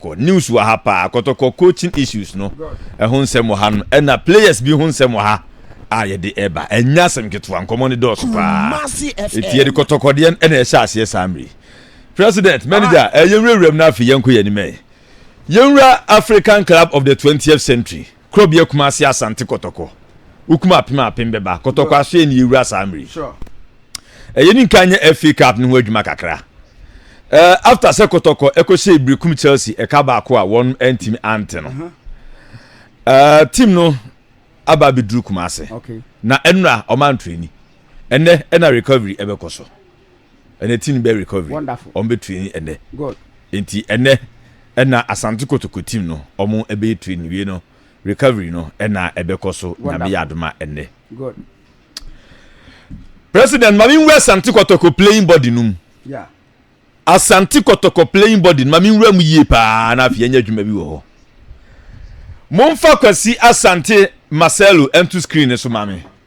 Kɔ news wɔ ha paa kɔtɔkɔ coaching issues no ɛho nsɛm wɔ ha nom ɛna players bi ho nsɛm wɔ ha a yɛde ɛba ɛnyɛ asɛm ketewa nkɔmɔ no dɔɔso paa eti yɛde kɔtɔkɔ deɛ no ɛna ɛhyɛ aseɛ saa mmere president manager ɛyɛ nwurawuram no afei yɛnkɔ yɛn anim ɛ yɛnwura African club of the 20th century Kuro bia Kumasi Asante Kɔtɔkɔ Wokum apem apem bɛba Kɔtɔkɔ asoɛ ni yɛwura saa mmere yi Ɛyɛ ni nka nyɛ FA Cup no ho adwuma kakra eh, After sɛ Kɔtɔkɔ ɛkɔhyɛ ebire kum Chelsea ɛka baako a wɔn antimi ante no eh, Team no aba abɛduru Kumasi Na ɛnora ɔma antrɛni Ɛnɛ ɛna recovery ɛbɛkɔ so. ɛnɛ team no bɛyɛ recovery wɔn bɛ train ɛnɛ nti ɛnɛ ɛna asante kotoko team no wɔn ɛbɛyɛ train wie no recovery no ɛna ɛbɛkɔ so nyame yɛ adoma ɛnɛ president maame nwura asante kotoko playing body no mu asante kotoko playing body no maame nwura mu yie paa na afei ɛnyɛ adwuma bi wɔ hɔ momfa kwasi asante marcelo ɛnto screen no so maame.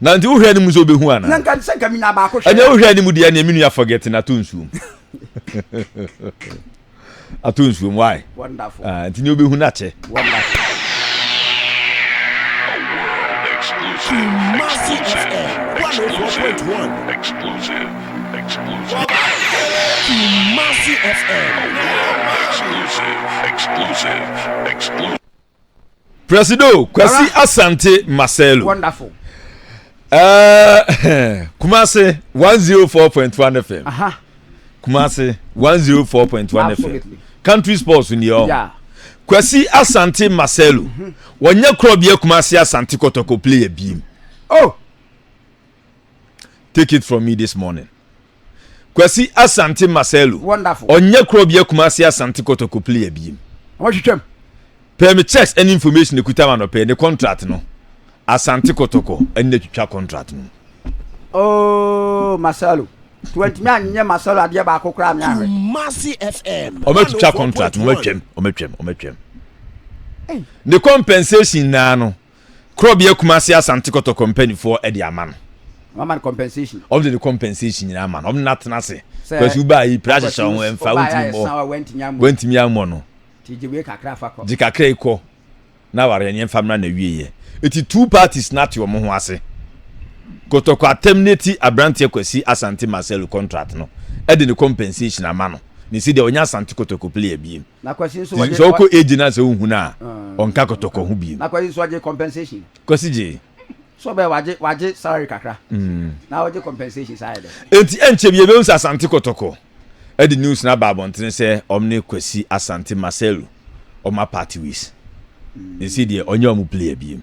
Na nti wohwɛ anim sɛ wobɛhu anaa? Na nka sɛ nka menya baako hwɛ. Ɛnyɛ wohwɛ anim deɛ neɛ me nua forget no ato nsuom. ato nsuom why? Wonderful. Ah, nti neɛ wobɛhu no akyɛ. Wonderful. Exclusive, exclusive, exclusive. Presido Kwasi Asante Marcelo. Wonderful. Uh, Kumasi 104.1 FM. Aha. Kumasi 104.1 FM. Country sports ni o. Yeah. Kwasi Asante Marcelo. Mm -hmm. Wɔnyɛ korɔ bia Kumasi Asante Kɔtɔkɔ player biem. Oh. Take it from me this morning. Kwasi Asante Marcelo. Wonderful. Ɔnyɛ kuro bia Kumasi Asante Kotoko player biem. Wɔtwitwam. Pɛɛ me checks ɛne information ekuta ma no pɛɛ ne contract no. Asante Kotoko ɛne na twitwa contract no. Oh Marcelo. Tuwantumi anyɛ Marcelo adeɛ baako koraa me ahwɛ. Kumasi FM. Ɔmɛtwitwa contract no ɔmɛtwam ɔmɛtwam ɔmɛtwam. Ne compensation naa no. Korɔbea Kumasi Asante Kɔtɔkɔ mpanimfoɔ de ama no. Wɔama no compensation. Wɔn de ne compensation nyinaa ama no. Wɔn na atena ase. Kwasi baa yi pira ahyehyɛ wɔn ɛnfa wɔntumi mmɔ wɔntumi ammɔ no. Ti gye wei kakra fa kɔ. Gye kakra yi kɔ na awareɛ ne ɛnfa mmra na wie yɛ. Eti two parties na ate wɔn ho ase. Kɔtɔkɔ atam ne ti aberanteɛ Kwasi Asante Marcelo contract no ɛde ne compensation ama no. Ne si deɛ ɔnyɛ Asante Kɔtɔkɔ player biem. Nti sɛ ɔkɔ age no a sɛ wohu no a ɔnka kɔtɔkɔ ho bio. Kwasi gyee. Nti ɛnkyɛ biara yɛbɛhu sɛ Asante Kɔtɔkɔ de news no aba abɔntene sɛ wɔn ne Kwasi Asante Marcelo wɔn apart ways. Ɛsei deɛ ɔnyɛ wɔn player biom.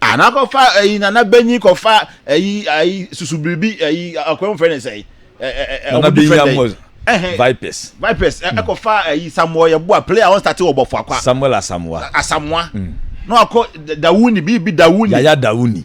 ana kɔfa ɛyi nana bɛnyi kɔfa ɛyi ɛyi susu biribi ɛyi akɔyɛ fɛn ne sɛ ɛyi ɛɛ ɔmo different ɛyi vipers vipers ɛkɔfa hmm. ɛyi samuel yɛ boa player ɔn start wɔ bɔfɔ akwa samuel asamoa asamoa hmm. na wakɔ dawuni biribi dawuni yaya dawuni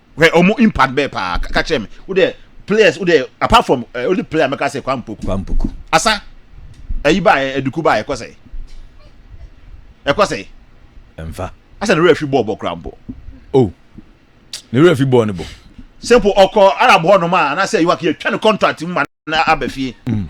hwɛ ɔmo impact bɛɛ paa ka kyerɛ me wo dɛ players wo dɛ apart from uh, only player mɛka sɛ kwan mpoku kwan mpoku asa ɛyi ba yɛ ɛduku ba yɛ ɛkɔ sɛ ɛkɔ sɛ ɛnfa asa ne wura fi bɔɔl bɔ kura mpo o oh. ne wura fi bɔɔl ne bɔ simple ɔkɔ arab hɔ nom a anaasɛ yiwa kiyɛ twa ne contract mu ma na aba fie mm.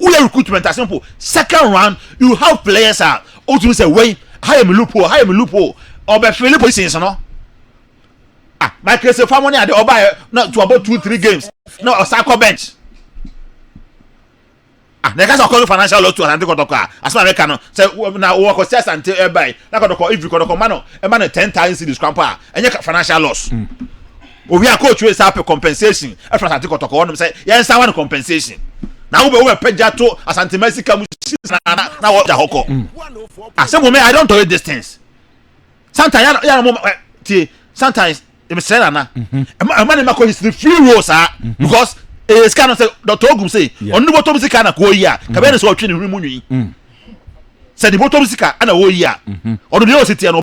woyɛ recruitment a simple second round you have players a wotumi sɛ wei ha yɛ me loophole ha yɛ me loophole ɔbɛfele positions no ah michael se fa mo ne ade ɔbaeɛ na to about two three games na ɔsan kɔ bench ah na ɛka sɛ ɔkɔ financial loss to asante kɔtɔkɔ a asɛm a mɛka no sɛ na wɔkɔ sɛ asante ɛbae na kɔtɔkɔ ivi kɔtɔkɔ ma no ɛma no ten thousand cities krampo a ɛnyɛ financial loss mm. Owie a coach wei saa pɛ compensation ɛfiri Asante Kɔtɔkɔ hɔ nom sɛ yɛn saa wa no compensation na wobɛ wobɛ pɛ gya to Asante ma sika mu si na na na wɔ gya hɔ kɔ. Asɛ mo me I don't tolerate these things. Sometimes yɛn yɛn mo ɛ tie sometimes yɛn srɛ nana ɛma ɛma ne ma kɔ history free roll saa because ɛyɛ sika no sɛ Dr. Ogum sɛ ɔno ne bɔtɔ mu sika na kɔɔ yi a kabɛn ne sɛ ɔtwe ne hwene mu nwi sɛ ne bɔtɔ mu sika ɛna ɔɔ yi a ɔno deɛ ɔsi tiɛ no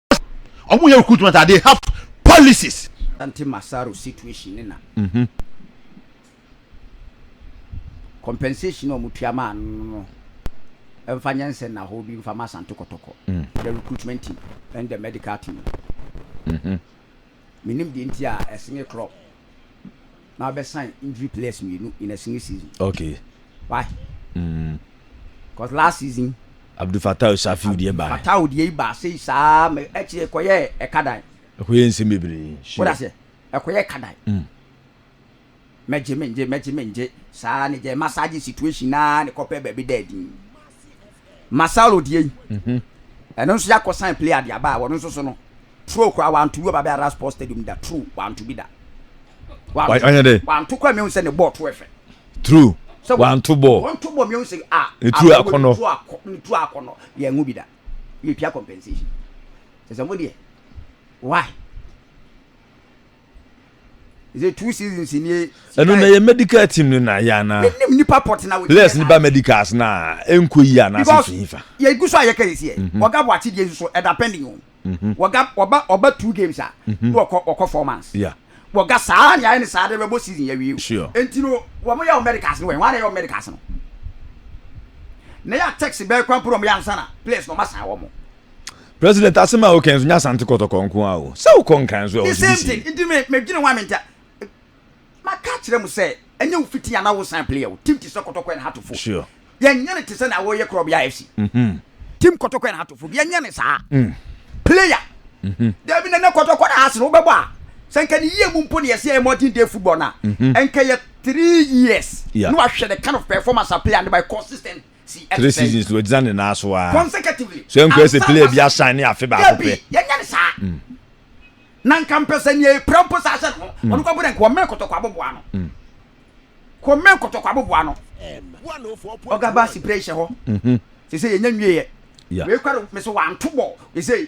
ɔmo yɛ recruitment a they have policies. Asante Masaro situation ne na. Mm -hmm. Compensation a ɔmo tua maa no no ɛmfa nyɛ nsɛn na hɔ bi mfa ma Asante Kɔtɔkɔ. Mm. The recruitment team and the medical team. Mm -hmm. Menim deɛ nti a ɛsenge club na wabɛsan injury players mmienu in a single season. Okay. Why? Mm. Because last season. Abdul Fatah Osafiu deɛ baa. Abdul Fatah deɛ baa sei saa mɛ ɛkyerɛ ɛkɔyɛ ɛkadan. Ɛkɔyɛ nsɛm bebree. Sure. Wọ́n ase ɛkɔyɛ ɛkadan. Mm. Mɛgye mengye mɛgye mengye saa ara ne gyɛ massage situation naa ne kɔpɛ baabi da adin ma Saulo deɛ yi ɛno nso yɛakɔ san play adeɛ aba a wɔno nso so no true koraa wanto bi ɔba bɛ ara sports stadium da true wanto bi da wanto koraa mehu sɛ ne bɔɔ to ɛfɛ true sɛ wanto bɔɔ wanto bɔɔ mehu sɛ a ne true akɔnɔ ne true akɔnɔ yɛn ho bi da yɛtua compensation sɛ sɛ mo deɛ why Ɛno na yɛ medical team no na yɛ ana? Les ne ba medicals na ɛnkɔ yi ana sɛ fi fa? Yɛgu so a yɛka yɛsi ɛ. Mhm. Wɔga bɔ akyegyeɛ nso so ɛda pending o. Mhm. Wɔga wɔba ɔba two games a mhm. na wɔkɔ wɔkɔ four months. Yeah. Wɔga saa ne ayɛ ne saa de bɛbɔ season yɛ wie o. Sure. Enti no wɔn yɛ wɔn medicals no wɛn wɔn ayɛ wɔn medicals no. Na yɛ a taxi bɛɛ kwan poro wɔn yɛ ansa na players na wɔn asan wɔn. president asem a wokɛn so nyɛ asante kɔtɔkɔ nko a o sɛ wokɔ nkran nso a the same thing nti me medwene ho a menta maka kyerɛ mu sɛ ɛnyɛ wo fiti anaa wo san player o team te sɛ kɔtɔkɔ and hatofo sure yɛnyɛ ne te sɛ na wɔyɛ korɔbea fc mm -hmm. team kɔtɔkɔ and hatofo yɛnyɛ ne saa mm. player mm -hmm. dabi nana kɔtɔkɔ na ase no wobɛbɔ a sɛ nka ne yie mu mpo ne yɛsɛ yɛ modern day football no a mm -hmm. ɛnka yɛ three years yeah. na wahwɛ the kind of performance a player no by consistent Three seasons no ogyina ne nan so ara. So ɛnkɔ yɛ sɛ player bi asan ne afe baako pɛ. Yɛnyɛ ne saa. Mm. Na nka mpɛ sɛ nea epira mpo saa hyɛ ne ho. Mm. Ɔno kɔ bere nka wɔmɛn kɔtɔkɔ aboboa no. Mm. Kɔmɛn kɔtɔkɔ aboboa no. Ɔga baasi pere hyɛ hɔ. Mhm. Sɛ sɛ yɛnyɛ nwie yɛ. Yeah. Wei kɔ do mɛ sɛ wanto bɔ. Sɛ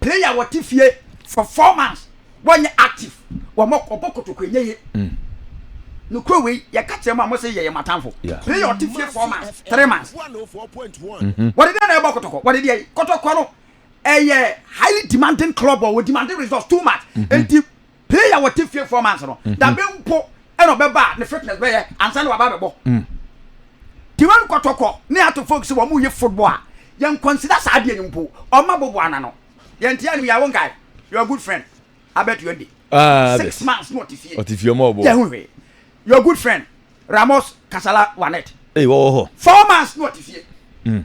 Player wɔte fie for four months wɔnyɛ active wɔn ɔbɔ kotoko ɛnyɛ ye nokuro wei yɛka kyerɛ mu a mose yɛyɛ matanfo player ɔte fie four months three months mm-hmm. wɔde dɛn na ɛbɔ kotoko wɔde deɛ kotoko no ɛyɛ highly demanding club ɔ wɔ demanding results too much mm-hmm. nti Player a ɔte fie four months no, dabe mhm. mpo ɛna ɔbɛba a ne fitness bɛyɛ ansa na waba abɛbɔ. Mm. Tiwan kɔtɔkɔ ne ato folk sɛ wɔn yɛ football a yɛn consider saa adeɛ no mpo ɔma bobo ana no yɛn ti anim yɛ awon guy your good friend abɛto yɛn de. Ah, six months na ɔte fie ɔte fie ɔmɔ ɔbɔ yɛ ho hwee your good friend Ramos Kasala Wanet. Ee wɔwɔ hɔ. Four months na ɔte fie. Mm.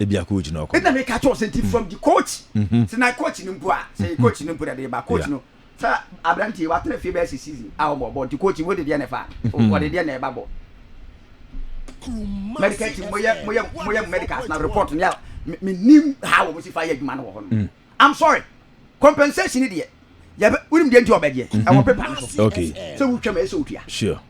Ebia coach na ɔkɔ. Ɛna mi ka kyerɛ ɔsɛ nti from the coach. Sɛ na coach ni mpo a sɛ yɛ coach ni mpo na de ba coach no sɛ aberante yi watena fie bɛyɛ sɛ season a ɔbɔ bɔ nti coach wo de deɛ na ɛfa ɔde deɛ na ɛba bɔ. Medical team mo yɛ mo yɛ mo yɛ medicals na report no yɛ mi nim ha wɔn si fa yɛ adwuma no wɔ hɔ no. I'm sorry compensation ni deɛ yɛ bɛ wunim deɛ nti ɔbɛ deɛ ɛwɔ paper no so. Okay. Sɛ wutwa mu ɛsɛ wutua. Sure.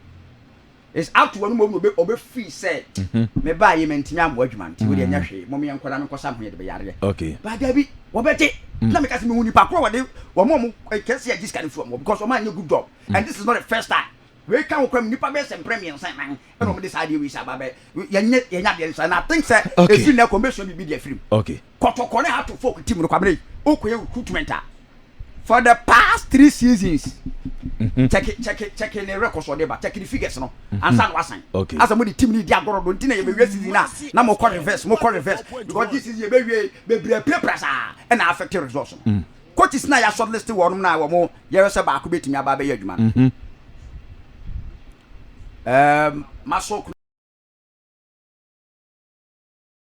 Is ato wɔn mmom na ɔbɛ firi sɛ mm-hmm. me baa yi mantumi ammɔ adwuma nti wode ɛnyɛ mm. hwee mom yɛ nkɔda me nkɔsa ho yɛde bɛyareɛ okay. baa daabi wɔbɛgye mm. na meka sɛ mehu nipa korɔ wɔde wɔma ɔmo eh, kɛse agye sika no firi ɔmo because ɔma anyɛ good job mm. and this is not the first time wei ka ho kora mu nipa bɛyɛ sɛ mprɛ mmiɛnsa nan ɛna ɔmo de saa adeɛ wei sɛ aba bɛ yɛnyɛ yɛnyɛ adeɛ no saa na i think sɛ ɛfiri na ɛkɔ mbɛsua biribi de afiri mu okay kɔtɔkɔ ne hato folk team no kwabena yi okɔyɛ recruitment a for the past three seasons mhm. check check check ne records ɔde ba check ne figures no mhm. ansa na wasan asa mo de team ne di agorɔ do nti na yɛbɛwie season a na mo kɔ reverse mo kɔ reverse because this season yɛbɛwie bebree apirapira saa ɛna affect results no mm. coaches na yɛ short list wɔnom na wɔn yɛrɛ sɛ baako bɛtumi aba abɛyɛ adwuma no mhm. um, masɔ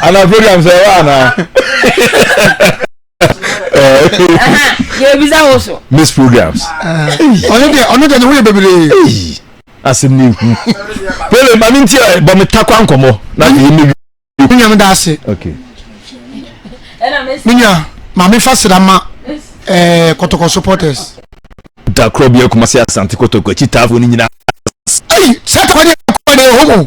ana program sɛ ɛwɔ anaa yɛbisa wo so miss programs ɔno deɛ ɔno deɛ ne ho yɛ bebree asɛm ne hu pele ma me nti bɔ me takwa nkɔmmɔ na yɛ me wi nyame da ase menya ma mefa sra ma eh, kɔtɔkɔ supporters da korɔ bi akuma se asante kɔtɔkɔ akyi taafo no nyinaa sɛ takwa ne ɛkɔ ne ɛhɔ mu